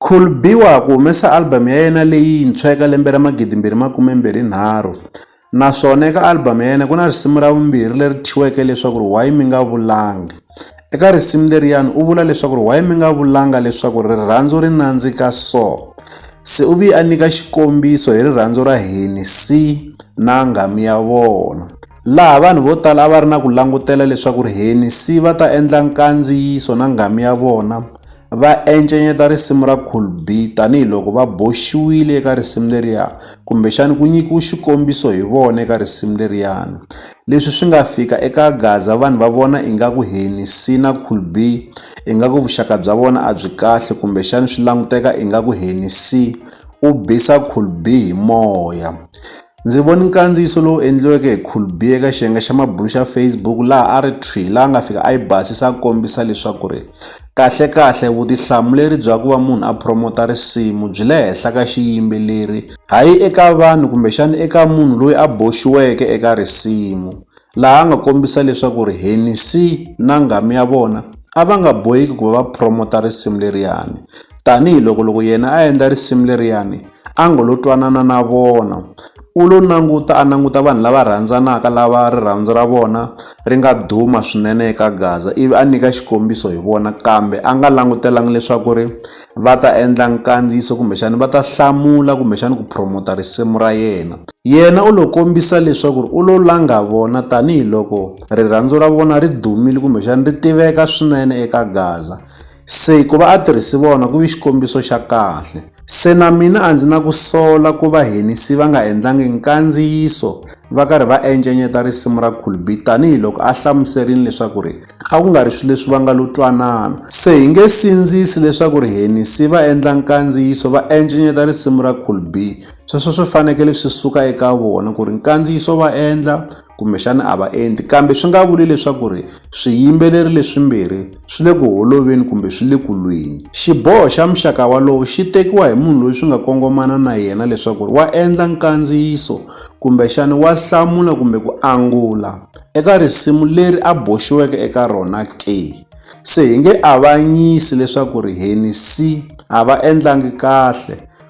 Khul Biwa ku humesa album ya yena leyintshwa eka lembe ra 2023 naswona eka album ya yena ku na risimu ra vumbirhi leri thyiweke leswaku ri Why Mi Nga Vulanga. Eka risimu leriyani u vula leswaku ri Why Mi Nga Vulanga leswaku rirhandzu ri nandzika so. Se u viye a nyika xikombiso hi rirhandzu ra Hennessy na nghamu ya vona. Laha vanhu vo tala a va ri na ku langutela leswaku ri Hennessy va ta endla nkandziyiso na nghamu ya vona va encenyeta risimu ra Cool B tanihi loko va boxiwile eka risimu leriya kumbexana ku nyikiwe xikombiso hi vona eka risimu leriyani leswi swi nga fika eka Gaza vanhu va vona ingaku Hennc na Cool B ingaku vuxaka bya vona a byi kahle kumbexana swi languteka ingaku Hennc u bisa Cool B hi moya Ndzi vone nkandziyiso lowu endliweke hi Khulbi eka xiyenge xa mabulo xa Facebook laha a ri thwi laha nga fika a yi basisa a kombisa leswaku ri kahlekahle vutihlamuleri bya ku va munhu a promota risimu byi le henhla ka xiyimbeleri hayi eka vanhu kumbexana eka munhu loyi a boxiweke eka risimu laha a nga kombisa leswaku ri Hennessy na nghamu ya vona a va nga boheki ku va va promota risimu leriyani tanihiloko loko yena a endla risimu leriyani a ngo lo twanana na vona u lo languta a languta vanhu lava rhandzanaka lava rirhandzu ra vona ri nga duma swinene eka gaza ivi a nyika xikombiso hi vona kambe a nga langutelanga leswaku ri va ta endla nkandziyiso kumbexana va ta hlamula kumbexana ku promota risimu ra yena yena u lo kombisa leswaku ri u lo langa vona tanihiloko rirhandzu ra vona ri dumile kumbexana ri tiveka swinene eka gaza Se ku va a tirhisi vona ku vi xikombiso xa kahle. Se na mina a ndzi na ku sola ku va henisi va nga endlangi nkandziyiso va karhi va encenyeta risimu ra Khulbi tanihi loko a hlamuserini leswaku ri a ku nga ri swilo leswi va nga lo twanana. Se hi nge sindzisi leswaku ri henisi va endla nkandziyiso va encenyeta risimu ra Khulbi, sweswo swi fanekele swi suka eka vona ku ri nkandziyiso va endla kumbexana a va endli kambe swi nga vuli leswaku ri swiyimbeleri leswimbirhi swi le ku holoveni kumbe swi le ku lweni. Xiboho xa muxaka walowo xi tekiwa hi munhu loyi swi nga kongomana na yena leswaku wa endla nkandziyiso kumbexana wa hlamula kumbe ku angula eka risimu leri a boxiweke eka rona ke. Se hi nge avanyisi leswaku ri Hennessy a va endlangi kahle.